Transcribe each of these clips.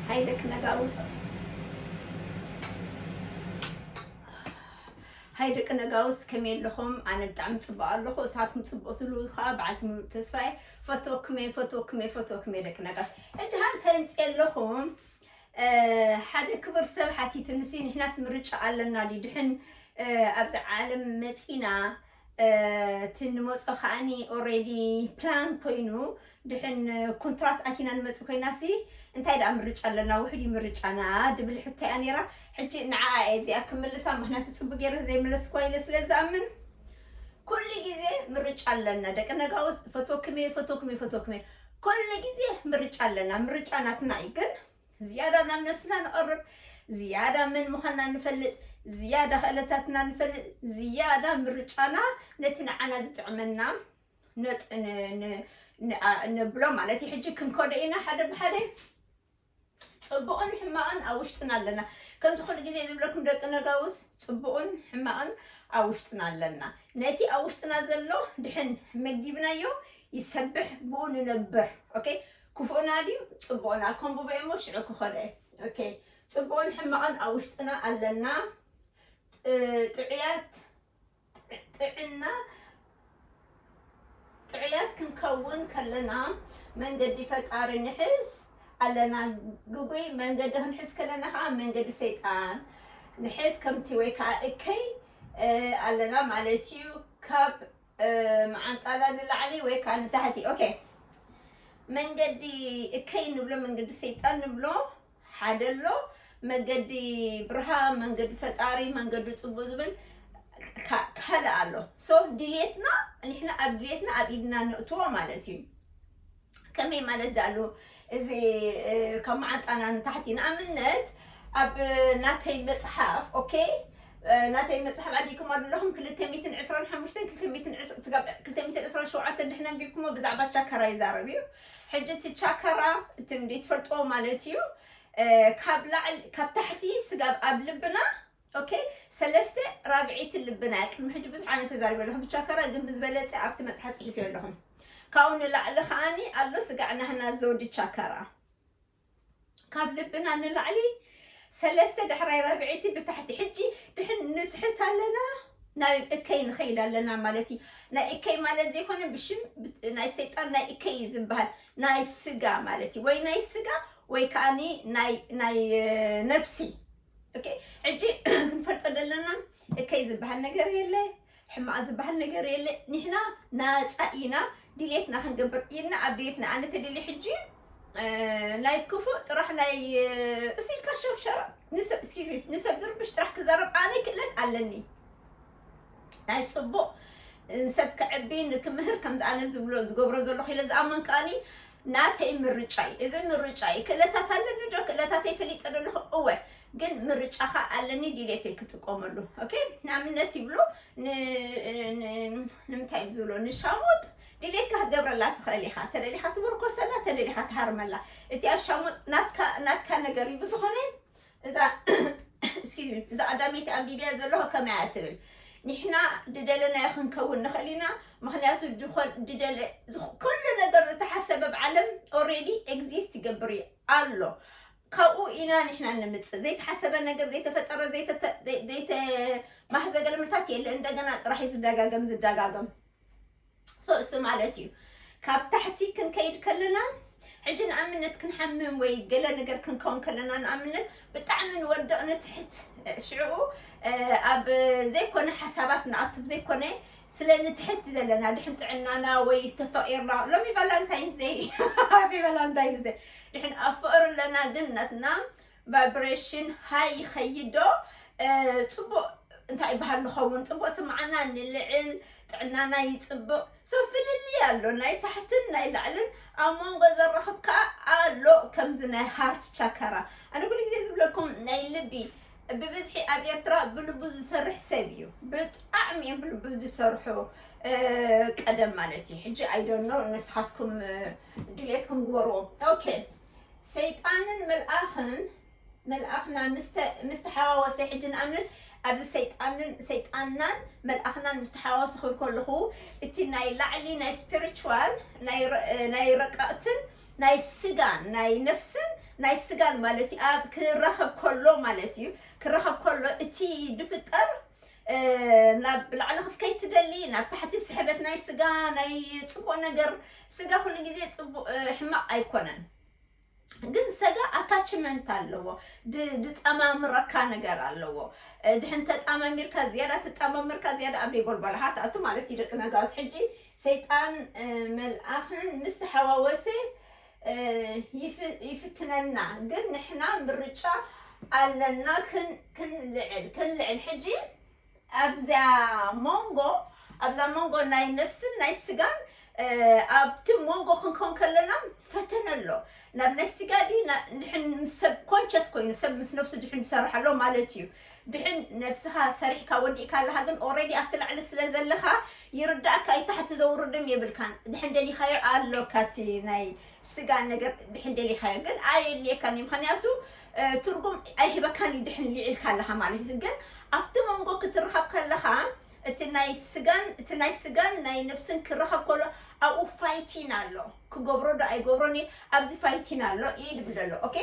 ሃይ ደቂ ነጋዊ ሃይ ደቂ ነጋውስ ከመይ ኣለኹም? ኣነ ብጣዕሚ ፅቡቕ ኣለኹ እሳትኩም ፅቡቕ ትሉ ከዓ በዓልቲ ምሉእ ተስፋ እየ ፈትወኩም እየ ፈትወኩም እየ ፈትወኩም እየ ደቂ ነጋውስ ሕጂ ሃ እንታይ ምፅእ ኣለኹም ሓደ ክቡር ሰብ ሓቲትንሲ ንሕናስ ምርጫ ኣለና ድዩ ድሕን ኣብዚ ዓለም መፂና እቲ ንመጾ ከኣኒ ኦሬዲ ፕላን ኮይኑ ድሕን ኩንትራት ኣቲና ንመጽእ ኮይናሲ እንታይ ደኣ ምርጫ ኣለና ውሕድ እዩ ምርጫና ድብል ሕቶ እያ ነይራ ሕጂ ንዓኣ እየ እዚኣ ክምልሳ ምክንያቱ ጽቡቅ ገይረ ዘይመለስክዋ ኢለ ስለ ዝኣምን ኩሉ ግዜ ምርጫ ኣለና ደቂ ነጋውስ ፈትወክሜ ፈትወክሜ ፈትወክሜ ኩሉ ግዜ ምርጫ ኣለና ምርጫ ናትና እዩ ግን ዝያዳ ናብ ነብስና ንቐርብ፣ ዝያዳ መን ምዃንና ንፈልጥ፣ ዝያዳ ክእለታትና ንፈልጥ፣ ዝያዳ ምርጫና ነቲ ንዓና ዝጥዕመና ነብሎ ማለት እዩ። ሕጂ ክንከዶ ኢና ሓደ ብሓደ ጽቡቕን ሕማቕን ኣብ ውሽጥና ኣለና ከምዚ ኩሉ ግዜ ዝብለኩም ደቂ ነጋውስ ጽቡቕን ሕማቕን ኣብ ውሽጥና ኣለና ነቲ ኣብ ውሽጥና ዘሎ ድሕን መጊብናዮ ይሰብሕ ብኡ ንነብር ኦኬ ክፉእና ድዩ ጽቡቕና ከንብቦ እየ እሞ ሽዑ ክኸዶ እየ ኦኬ ጽቡቕን ሕማቕን ኣብ ውሽጥና ኣለና ጥዑያት ጥዕና ጥዑያት ክንከውን ከለና መንገዲ ፈጣሪ ንሕዝ ኣለና ግጉይ መንገዲ ክንሕዝ ከለና ከዓ መንገዲ ሰይጣን ንሕዝ ከምቲ ወይ ከዓ እከይ ኣለና ማለት እዩ ካብ መዓንጣና ንላዕሊ ወይ ከዓ ንታሕቲ ኦኬ መንገዲ እከይ ንብሎ መንገዲ ሰይጣን ንብሎ ሓደ ኣሎ መገዲ ብርሃን መንገዲ ፈጣሪ መንገዲ ፅቡቅ ዝብል ካ- ካልእ ኣሎ ሶ ድሌትና ንሕና ኣብ ድሌትና ኣብ ኢድና ነእትዎ ማለት እዩ ከመይ ማለት ዳሉ እዚ ካብ መዓንጣና ንታሕቲ ንኣብነት ኣብ ናተይ መፅሓፍ ኦኬ ናተይ መፅሓፍ ዓዲግኩማ ዘለኹም ክልተ ሚትን ዕስራን ሓሙሽተን ክልተ ሚትን ስጋብ ክልተ ሚትን ዕስራን ሸውዓተን ድሕና ኣንቢብኩሞ ብዛዕባ ቻካራ ይዛረብ እዩ ሕጂ እቲ ቻካራ እቲ እንዲ ትፈልጥዎ ማለት እዩ ካብ ላዕሊ ካብ ታሕቲ ስጋብ ኣብ ልብና ኦኬ ሰለስተ ራብዒቲ ልብና ቅድሚ ሕጂ ብዙሕ ኣነ ተዛሪበ ኣለኹ ብቻ ከራ ግን ብዝበለፀ ኣብቲ መፅሓፍ ፅሒፍዮ ኣለኹም ካብኡ ንላዕሊ ከዓኒ ኣሎ ስጋዕ ናህና ዘውዲ ቻካራ ካብ ልብና ንላዕሊ ሰለስተ ዳሕራይ ራብዒቲ ብታሕቲ ሕጂ ድሕን ንትሕት ኣለና ናይ እከይ ንኸይድ ኣለና ማለት እዩ ናይ እከይ ማለት ዘይኮነ ብሽም ናይ ሰይጣን ናይ እከይ እዩ ዝበሃል ናይ ስጋ ማለት እዩ ወይ ናይ ስጋ ወይ ከዓኒ ናይ ነፍሲ ኦኬ ሕጂ ክንፈልጦ ዘለና እከይ ዝበሃል ነገር የለ ሕማቕ ዝበሃል ነገር የለ ንሕና ናፃ ኢና ድሌትና ክንገብር ኢልና ኣብ ድሌትና ኣነ ተደሊ ሕጂ ናይ ክፉእ ጥራሕ ናይ እሲልካ ሸብሸራ ንሰብ እስኪ ንሰብ ዝርብሽ ጥራሕ ክዛረብ ኣነ ክእለት ኣለኒ ናይ ጽቡቕ ሰብ ከዕቢ ንክምህር ከምዚ ኣነ ዝብሎ ዝገብሮ ዘለኹ ኢለ ዝኣምን ከኣኒ ናተይ ምርጫ እዩ እዚ ምርጫ እዩ ክእለታት ኣለኒ ዶ ክእለታተይ ፈሊጠ ዶ ኣለኹ እወ ግን ምርጫኻ ኣለኒ ድሌተይ ክጥቀመሉ ኦኬ ንኣብነት ይብሎ ንምንታይ እዮም ዝብሎ ንሻሞጥ ድሌትካ ክትገብረላ ትኽእል ኢኻ ተደሊኻ ትምርኮሰላ ተደሊኻ ትሃርመላ እቲ ኣሻሙጥ ናትካ ነገር እዩ ብዝኾነ እዛ Excuse me እዛ ቀዳመይቲ ኣንቢብያ ዘለኹ ከመይ እያ ትብል ንሕና ድደለናዮ ክንከውን ንኽእል ኢና ምክንያቱ ድኾን ድደለ ዝኽ- ኩሉ ነገር ዝተሓሰበ ኣብ ዓለም ኦልሬዲ ኤግዚስት ይገብር እዩ ኣሎ ካብኡ ኢና ንሕና ንምፅእ ዘይተሓሰበ ነገር ዘይተፈጠረ ዘይተተ- ዘይ- ዘይተማህዘ ገልምታት የለ እንደገና ጥራሕ እዩ ዝደጋገም ዝደጋገም so እሱ ማለት እዩ ካብ ታሕቲ ክንከይድ ከለና ሕጂ ንኣብነት ክንሓምም ወይ ገለ ነገር ክንከውን ከለና ንኣብነት ብጣዕሚ ንወድቕ ንትሕት ሽዕኡ ኣብ ዘይኮነ ሓሳባት ንኣቱ ዘይኮነ ስለ ንትሕት ዘለና ድሕን ጥዕናና ወይ ተፈቂርና ሎሚ ቫላንታይንስ ደይ ሃፒ ቫላንታይንስ ደይ ድሕን ኣብ ፍቅሪ ኣለና ግን ናትና ቫይብሬሽን ሃይ ይኸይድ ዶ ፅቡቕ እንታይ ይበሃል ንኸውን ፅቡቕ ስምዓና ንልዕል ጥዕናና ይፅብቕ ሶ ፍልልይ ኣሎ ናይ ታሕትን ናይ ላዕልን ኣብ መንጎ ዘራኽብ ከዓ ኣሎ ከምዚ ናይ ሃርት ቻከራ ኣነ ኩሉ ግዜ ዝብለኩም ናይ ልቢ ብብዝሒ ኣብ ኤርትራ ብልቡ ዝሰርሕ ሰብ እዩ ብጣዕሚ እዮም ብልቡ ዝሰርሑ ቀደም ማለት እዩ ሕጂ ኣይደኖ ንስኻትኩም ድሌትኩም ግበርዎ ኦኬ ሰይጣንን መልኣኽን መልኣኽና ምስ ተሓዋወሰ ሕጂ ንኣብነት ኣብዚ ሰይጣንን ሰይጣንናን መልኣኽናን ምስ ተሓዋወሰ ክብል ከለኹ እቲ ናይ ላዕሊ ናይ ስፒሪቹዋል ናይ ረቀቕትን ናይ ስጋን ናይ ነፍስን ናይ ስጋን ማለት እዩ ኣብ ክራኸብ ከሎ ማለት እዩ ክራኸብ ከሎ እቲ ዝፍጠር ናብ ላዕሊ ክትከይድ ትደሊ ናብ ታሕቲ ስሕበት ናይ ስጋ ናይ ፅቡቅ ነገር ስጋ ኩሉ ግዜ ፅቡቅ ሕማቅ ኣይኮነን ግን ሰጋ ኣታችመንት ኣለዎ ድ- ድጠማምረካ ነገር ኣለዎ እ፣ ድሕን ተጣማሚርካ ዝያዳ ተጣማምርካ ዝያዳ ኣብ ደይቦልባልካ ትኣቱ ማለት እዩ ደቂ ነጋስ ሕጂ ሰይጣን እ፣ መልኣኽን ምስ ተሓዋወሰ ይፍትነና ግን ንሕና ምርጫ ኣለና ክንልዕል ክንልዕል ሕጂ ኣብዚኣ ሞንጎ ኣብዛ ሞንጎ ናይ ነፍስን ናይ ስጋን ኣብቲ ሞንጎ ክንከውን ከለና ፈተነ ኣሎ ናብ ናይ ስጋ ዲ ንሕን ሰብ ኮንቸስ ኮይኑ ሰብ ምስ ነፍሱ ድሕን ዝሰርሕ ኣሎ ማለት እዩ ድሕን ነብስኻ ሰሪሕካ ወዲእካ ኣለኻ ግን ኦሬዲ ኣብቲ ላዕሊ ስለ ዘለኻ ይርዳእካ እዩ ታሕቲ ዘውርድም የብልካን ድሕን ደሊኻዮ ኣሎካ እቲ ናይ ስጋ ነገር ድሕን ደሊኻዮ ግን ኣየድልየካን እዩ ምክንያቱ ትርጉም ኣይህበካን እዩ ድሕን ሊዒልካ ኣለኻ ማለት እዩ ግን ኣብቲ መንጎ ክትረኸብ ከለኻ እቲ ናይ ስጋን እቲ ናይ ስጋን ናይ ነብስን ክረኸብ ከሎ ኣብኡ ፋይቲን ኣሎ ክገብሮ ዶ ኣይገብሮን ኣብዚ ፋይቲን ኣሎ ኢድ ብደሎ ኦኬ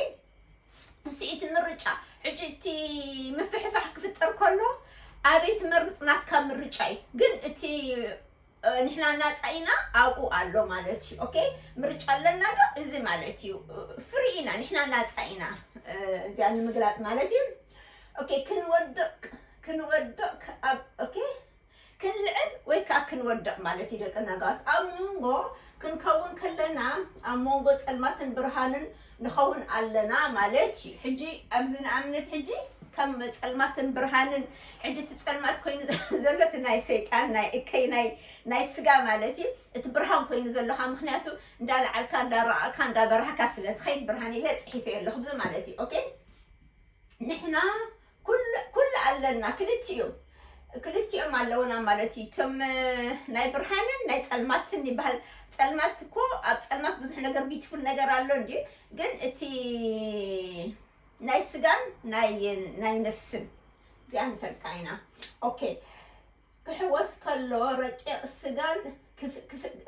ንሱ እቲ ምርጫ ሕጂ እቲ ምፍሕፋሕ ክፍጠር ከሎ ኣበይ ትመርፅ ናትካ ምርጫ እዩ ግን እቲ ንሕና ናፃኢና ኣብኡ ኣሎ ማለት እዩ ኦኬ ምርጫ ኣለና ዶ እዚ ማለት እዩ ፍሪ ኢና ንሕና ናፃኢና እዚኣ ንምግላፅ ማለት እዩ ኦኬ ክንወድቕ ክንወድቕ ኣብ ኦኬ ክንልዕል ወይ ከኣ ክንወድቕ ማለት እዩ ደቂ ነጋስ። ኣብ ሞንጎ ክንከውን ከለና ኣብ ሞንጎ ጸልማትን ብርሃንን ንኸውን ኣለና ማለት እዩ። ሕጂ ኣብዚ ንኣብነት ሕጂ ከም ጸልማትን ብርሃንን ሕጂ እቲ ጸልማት ኮይኑ ዘሎ እቲ ናይ ሰይጣን ናይ እከይ ናይ ናይ ስጋ ማለት እዩ እቲ ብርሃን ኮይኑ ዘሎካ ምክንያቱ እንዳ ለዓልካ እንዳ ረኣካ እንዳ በራህካ ስለ ትኸይድ ብርሃን ኢለ ጽሒፈዮ ኣለኹ ብዚ ማለት እዩ ኦኬ ንሕና ኩሉ ኩሉ ኣለና ክልቲኡ ክልቲኦም ኣለውና ማለት እዩ እቶም ናይ ብርሃንን ናይ ፀልማትን ይበሃል ፀልማት እኮ ኣብ ፀልማት ብዙሕ ነገር ቢትፉል ነገር ኣሎ እንዲ ግን እቲ ናይ ስጋን ናይ ናይ ነፍስን እዚኣ ንፈልጣ ኢና ኦኬ ክሕወስ ከሎ ረቂቕ ስጋን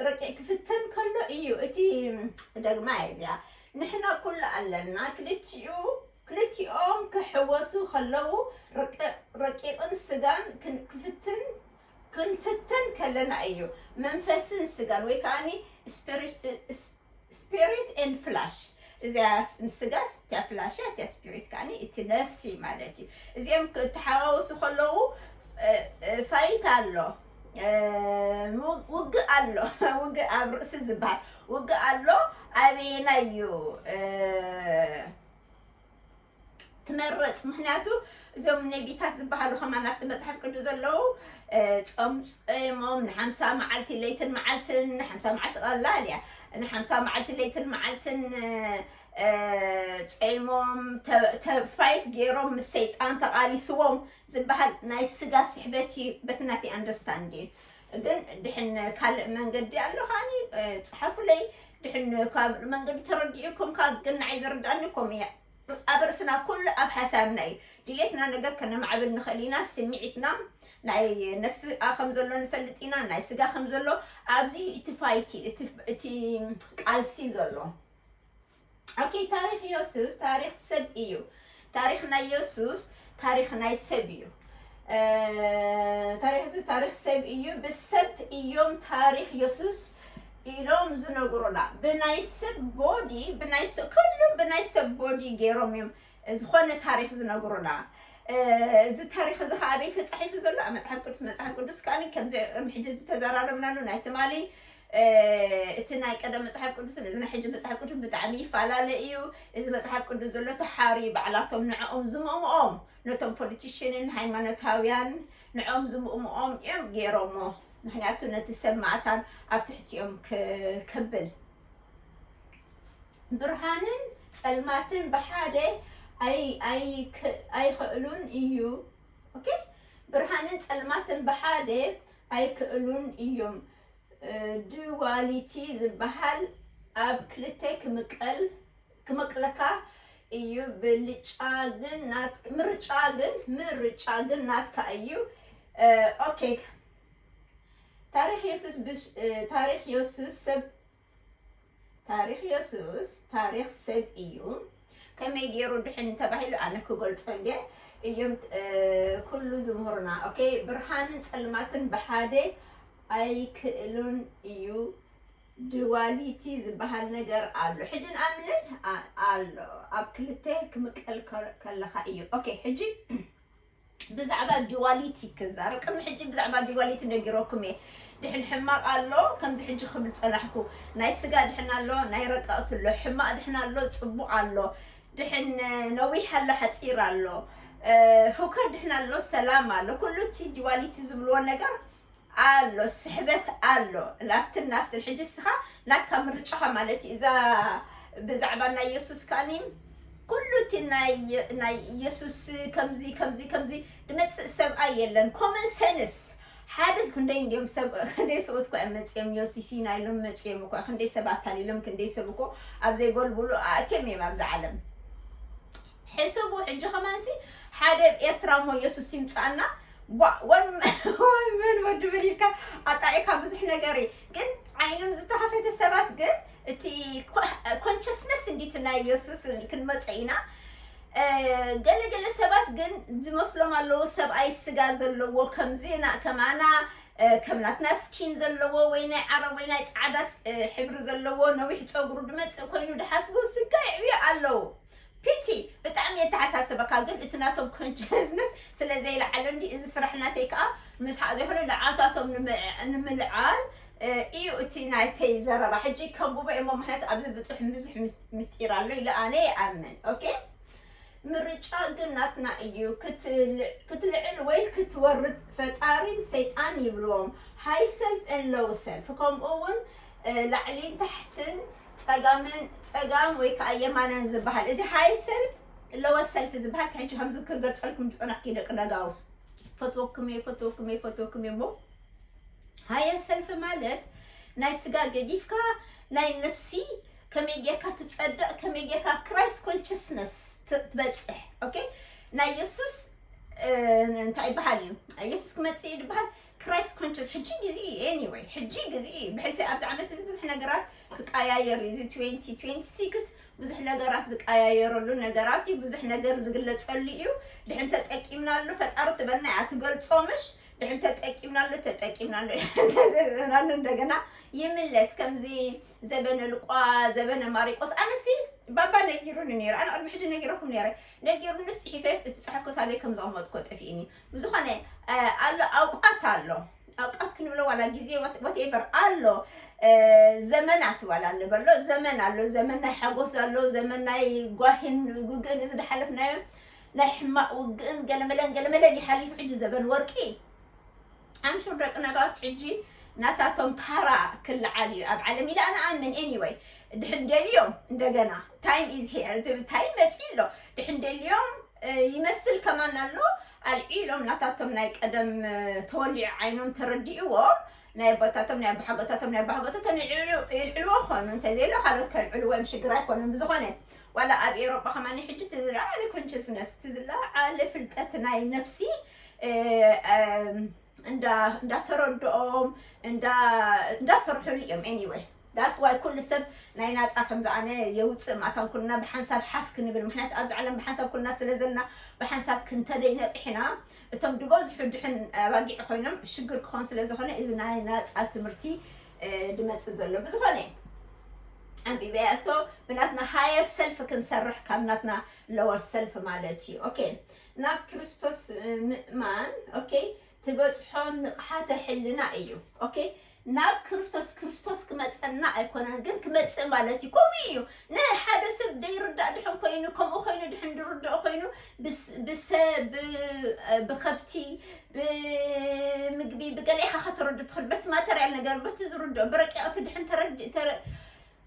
ረቂቕ ክፍተን ከሎ እዩ እቲ ደግማ እየ እዚኣ ንሕና ኩሉ ኣለና ክልቲኡ ክልቲኦም ክሕወሱ ከለው ረቂቕን ስጋን ክንክፍትን ክንፍተን ከለና እዩ መንፈስን ስጋን ወይ ከዓኒ ስፒሪት ኤንድ ፍላሽ እዚኣ ስጋ እቲኣ ፍላሽ እያ እቲኣ ስፒሪት ከዓ እቲ ነፍሲ ማለት እዩ እዚኦም ክተሓዋወሱ ከለዉ ፋይት ኣሎ ውግእ ኣሎ ውግእ ኣብ ርእሲ ዝበሃል ውግእ ኣሎ ኣበየና እዩ ትመረጽ ምክንያቱ እዞም ነቢታት ዝበሃሉ ከማን ኣብቲ መፅሓፍ ቅዱስ ዘለዉ ፆም ፀሞም ንሓምሳ መዓልቲ ለይትን መዓልትን ንሓምሳ መዓልቲ ቀላል እያ ንሓምሳ መዓልቲ ለይትን መዓልትን ፀሞም ፋይት ገይሮም ምስ ሰይጣን ተቃሊስዎም ዝበሃል ናይ ስጋ ስሕበት እዩ በቲ ናተይ ኣንደርስታንድ እዩ ግን ድሕን ካልእ መንገዲ ኣሎ ከዓኒ ጽሐፉለይ ድሕን ካልእ መንገዲ ተረዲኡኩም ካብ ግን ንዓይ ዝርድኣኒ ከምኡ እያ ኣብ ርእስና ኩሉ ኣብ ሓሳብና እዩ ድሌትና ነገር ከነማዕብል ንኽእል ኢና ስምዒትና ናይ ነፍሲ ከም ዘሎ ንፈልጥ ኢና ናይ ስጋ ከም ዘሎ ኣብዚ እቲ ፋይቲ እቲ ቃልሲ ዘሎ ኦኬ ታሪክ ዮሱስ ታሪክ ሰብ እዩ ታሪክ ናይ ዮሱስ ታሪክ ናይ ሰብ እዩ ታሪክ ዮሱስ ታሪክ ሰብ እዩ ብሰብ እዮም ታሪክ ዮሱስ ኢሎም ዝነግሩና ብናይ ሰብ ቦዲ ብናይ ሰብ ኩሉ ብናይ ሰብ ቦዲ ገይሮም እዮም ዝኾነ ታሪክ ዝነግሩና እዚ ታሪክ እዚ ከዓ ኣበይ ተፃሒፉ ዘሎ ኣብ መፅሓፍ ቅዱስ መፅሓፍ ቅዱስ ከዓ ከምዚ ሕጂ ዝተዘራረብናሉ ናይ ትማሊ እቲ ናይ ቀደም መጽሓፍ ቅዱስን እዚ ናይ ሕጂ መጽሓፍ ቅዱስን ብጣዕሚ ይፈላለ እዩ። እዚ መጽሓፍ ቅዱስ ዘሎ ተሓርዩ ባዕላቶም ንዕኦም ዝምእምኦም ነቶም ፖለቲሽንን ሃይማኖታውያን ንዕኦም ዝምእምኦም እዮም ገይሮሞ። ምክንያቱ ነቲ ሰብ ማእታን ኣብ ትሕቲኦም ክ- ከብል ብርሃንን ጸልማትን ብሓደ ኣይ- ኣይክ- ኣይክእሉን እዩ ኦኬ ብርሃንን ጸልማትን ብሓደ ኣይክእሉን እዮም ዱዋሊቲ ዝባሃል ኣብ ክልተ ክምቀል ክመቅለካ እዩ ብልጫ ግን ናት ምርጫ ግን ምርጫ ግን ናትካ እዩ ኦኬ ታሪክ የሱስ ብሽ ታሪክ የሱስ ሰብ ታሪኽ የሱስ ታሪኽ ሰብ እዩ ከመይ ገይሩ ድሕን ተባሂሉ ኣነ ክገልጾ እንዴ እዮም ኩሉ ዝምህሩና ኦኬ ብርሃንን ጸልማትን ብሓደ ኣይክእሉን እዩ ድዋሊቲ ዝበሃል ነገር ኣሎ ሕጂ ንኣብነት ኣሎ ኣብ ክልተ ክምቀል ከለኻ እዩ ኦኬ ሕጂ ብዛዕባ ዲዋሊቲ ክዛር ቅድሚ ሕጂ ብዛዕባ ዲዋሊቲ ነጊረኩም እየ ድሕን ሕማቅ ኣሎ ከምዚ ሕጂ ክብል ጸናሕኩ ናይ ስጋ ድሕን ኣሎ ናይ ረቀቅቲ ኣሎ ሕማቅ ድሕን ኣሎ ጽቡቅ ኣሎ ድሕን ነዊሕ ኣሎ ሓጺር ኣሎ ሁከት ድሕን ኣሎ ሰላም ኣሎ ኩሉ እቲ ዲዋሊቲ ዝብልዎ ነገር ኣሎ ስሕበት ኣሎ ናብትን ናብትን ሕጂ እስኻ ናትካ ምርጫኻ ማለት እዩ እዛ ብዛዕባ ናይ የሱስ ከኣኒ ኩሉ እቲ ናይ የሱስ ከምዚ ከምዚ ከምዚ ድመፅእ ሰብኣይ የለን ኮመን ሰንስ ሓደ ክንደይ እንዲኦም ሰብ ክንደይ ሰብኡት እኳ እዮም መፅኦም ዮሲሲና ኢሎም መፅኦም እኳ ክንደይ ሰብ ኣታሊሎም ክንደይ ሰብ እኮ ኣብ ዘይበልብሉ ኣእትዮም እዮም ኣብዛ ዓለም ሕስቡ ሕጂ ከማንሲ ሓደ ኤርትራ እሞ የሱስ ይምጻና ወምን ወዲ ምን ኢልካ ኣጣኢካ ብዙሕ ነገር እዩ ግን ዓይኖም ዝተኸፈተ ሰባት ግን እቲ ኮንሽስነስ እንዲቲ ናይ የሱስ ክንመፀ ኢና ገለገለ ሰባት ግን ዝመስሎም ኣለዎ ሰብኣይ ስጋ ዘለዎ ከምዚ ከማና ከም ናትና ስኪን ዘለዎ ወይ ናይ ዓረብ ወይ ናይ ፃዕዳ ሕብሪ ዘለዎ ነዊሕ ፀጉሩ ድመፅእ ኮይኑ ድሓስቡ ስጋ ይዕብዮ ኣለዉ ፒቲ ብጣዕሚ የተሓሳስበካ ግን እቲ ናቶም ኮንሸስነስ ስለ ዘይለዓለ እንድዩ እዚ ስራሕ ናተይ ከኣ ምስሓቅ ዘይኮነ ንዓታቶም ንምልዓል ኢዩ እቲ ናተይ ዘረባ ሕጂ ከንብቦ ኢየ እሞ ምክንያቱ ኣብዚ ብጹሕ ብዙሕ ምስጢር ኣሎ ኢለ ኣነ ይኣምን ኦኬ ምርጫ ግን ናትና እዩ ክትልዕል ወይ ክትወርድ ፈጣሪን ሰይጣን ይብልዎም ሃይ ሰልፍ ን ሎው ሰልፍ ከምኡ ውን ላዕሊን ታሕትን ጸጋምን ጸጋም ወይ ከዓ የማናን ዝበሃል እዚ ሃይ ሰልፍ ለወ ሰልፍ ዝበሃል ከሕጂ ከምዚ ክገልጸልኩም ዝጸናሕኩ ደቂ ነጋውስ ፈትወኩም እየ ፈትወኩም እየ ፈትወኩም እየ እሞ ሃየ ሰልፊ ማለት ናይ ስጋ ገዲፍካ ናይ ነፍሲ ከመይ ጌርካ ትጸድቕ ከመይ ጌርካ ክራይስት ኮንሽስነስ ትበጽሕ ኦኬ ናይ የሱስ እንታይ ይበሃል እዩ የሱስ ክመጽእ እዩ ዝበሃል ክራይስት ኮንቸስ ሕጂ ግዜኡ እዩ ኤኒወይ ሕጂ ግዜኡ እዩ ብሕልፊ ኣብዚ ዓመት እዚ ብዙሕ ነገራት ክቀያየር እዩ እዚ ትዌንቲ ትዌንቲ ሲክስ ብዙሕ ነገራት ዝቀያየረሉ ነገራት እዩ ብዙሕ ነገር ዝግለጸሉ እዩ ድሕን ተጠቂምናሉ ፈጣሪ ትበልና እያ ትገልጾ ምሽ ድሕን ተጠቂምናሉ ተጠቂምናሉ ተጠቂምናሉ እንደገና ይምለስ ከምዚ ዘበነ ልቋ ዘበነ ማሪቆስ ኣነሲ ባባ ነጊሩኒ ነይሩ ኣነ ቅድሚ ሕጂ ነጊረኩም ነይረ ነጊሩንስ ጽሒፈስ እቲ ጸሓፍኩ ሳበይ ከም ዘቐመጥኩ ጠፊእኒ ብዝኾነ ኣሎ ኣውቃት ኣሎ ኣውቃት ክንብሎ ዋላ ግዜ ወትኤቨር ኣሎ ዘመናት ዋላ ንበሎ ዘመን ኣሎ ዘመን ናይ ሓጎስ ኣሎ ዘመን ናይ ጓሂን ውግእን እዚ ዝሓለፍናዮ ናይ ሕማቅ ውግእን ገለመለን ገለመለን ይሓሊፉ ሕጂ ዘበን ወርቂ ኣምሹር ደቂ ነጋስ ሕጂ ናታቶም ታራ ክልዓል እዩ ኣብ ዓለም ኢለ ኣነ ኣምን ኤኒወይ ድሕን ደልዮም እንደገና ታይም ኢዝ ሄር ታይም መፂ ኣሎ ድሕን ደልዮም ይመስል ከማን ኣሎ ኣልዒሎም ናታቶም ናይ ቀደም ተወሊዑ ዓይኖም ተረዲእዎም ናይ ኣቦታቶም ናይ ኣባሓጎታቶም ናይ ኣባሓጎታቶም ይልዕልዎ ኾኑ እንተዘይሎ ካልኦት ከልዕልዎ እዮም ሽግር ኣይኮኑን ብዝኾነ ዋላ ኣብ ኤሮጳ ከማኒ ሕጂ ትዝለዓለ ኮንሽስነስ ትዝለዓለ ፍልጠት ናይ ነፍሲ እንዳተረድኦም እንዳሰርሕሉ እዮም ኤኒወይ ዳስ ዋይ ኩሉ ሰብ ናይ ናፃ ከምዚ ኣነ የውፅእ ማእታን ኩልና ብሓንሳብ ሓፍ ክንብል ምክንያቱ ኣብዚ ዓለም ብሓንሳብ ኩልና ስለ ዘለና ብሓንሳብ ክንተደይ ነቂሕና እቶም ድበዝሑ ድሕን ኣባጊዕ ኮይኖም ሽግር ክኾን ስለ ዝኾነ እዚ ናይ ናፃ ትምህርቲ ድመፅእ ዘሎ ብዝኾነ ኣንቢበያ ሶ ብናትና ሃየር ሰልፍ ክንሰርሕ ካብ ናትና ለወር ሰልፍ ማለት እዩ ኦኬ ናብ ክርስቶስ ምእማን ኦኬ ትበጽሖ ንቕሓተ ሕልና እዩ ኦኬ ናብ ክርስቶስ ክርስቶስ ክመጸና ኣይኮነን ግን ክመጽእ ማለት እዩ ከምኡ እዩ ንሓደ ሰብ ደይርዳእ ድሕን ኮይኑ ከምኡ ኮይኑ ድሕን ድርድኦ ኮይኑ ብስ- ብሰ ብ- ብከብቲ ብምግቢ ብገለ ኢኻ ከተረዱ ትኽእል በቲ ማተርያል ነገር በቲ ዝርድኦ ብረቂቕቲ ድሕን ተረዲ ተረ-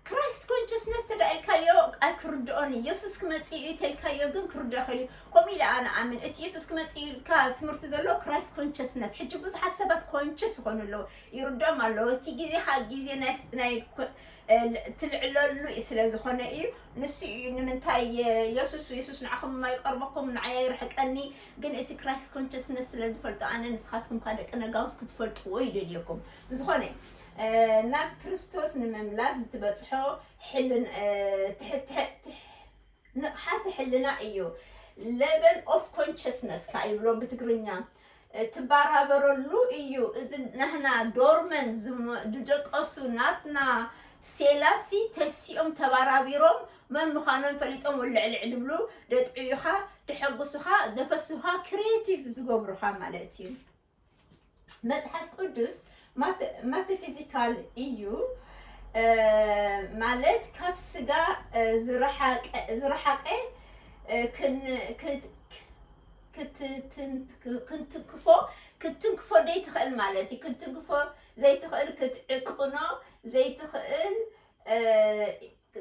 Christ Consciousness ተድኣ ኢልካዮ ኣይክርድኦን እዩ የሱስ ክመጽእ እዩ ተልካዮ ግን ክርድኦ ይኽእል እዩ ከምኡ ኢለ ኣነ ኣምን እቲ የሱስ ክመጽእ እዩ ኢልካ ትምህርቲ ዘሎ Christ Consciousness ሕጂ ብዙሓት ሰባት ኮንቸስ ይኾኑ ኣለዉ ይርድኦም ኣለዉ እቲ ግዜኻ ግዜ ናይ ናይ ኮ- እ፣ ትልዕለሉ እዩ ስለ ዝኾነ እዩ ንሱ እዩ ንምንታይ እ፣ የሱስ የሱስ ንዓኹም የማይቀርበኩም ንዓይ ኣይርሕቀኒ ግን እቲ Christ Consciousness ስለ ዝፈልጦ ኣነ ንስኻትኩም እኳ ደቂ ነጋውስ ክትፈልጥዎ ይደልየኩም ብዝኾነ ናብ ክርስቶስ ንምምላስ እትበጽሖ ንቕሓተ ሕልና እዩ፣ Level of Consciousness ከኣ ይብሎ ብትግርኛ፣ እትበራበረሉ እዩ። እዚ ናህና ዶርመን ዝደቀሱ ናትና ሴላሲ ተሲኦም ተበራቢሮም መን ምዃኖም ፈሊጦም ወልዕልዕ ድብሉ ደጥዕዩኻ ደሐጉሱኻ ደፈሱኻ ክሬቲቭ ዝገብሩኻ ማለት እዩ። መጽሓፍ ቅዱስ ማተፊዚካል እዩ ማለት ካብ ስጋ ዝረሓቀ ክትንክፎ ክትንክፎ ዘይትኽእል ማለት እዩ ክትንክፎ ዘይትኽእል ክትዕቅኖ ዘይትኽእል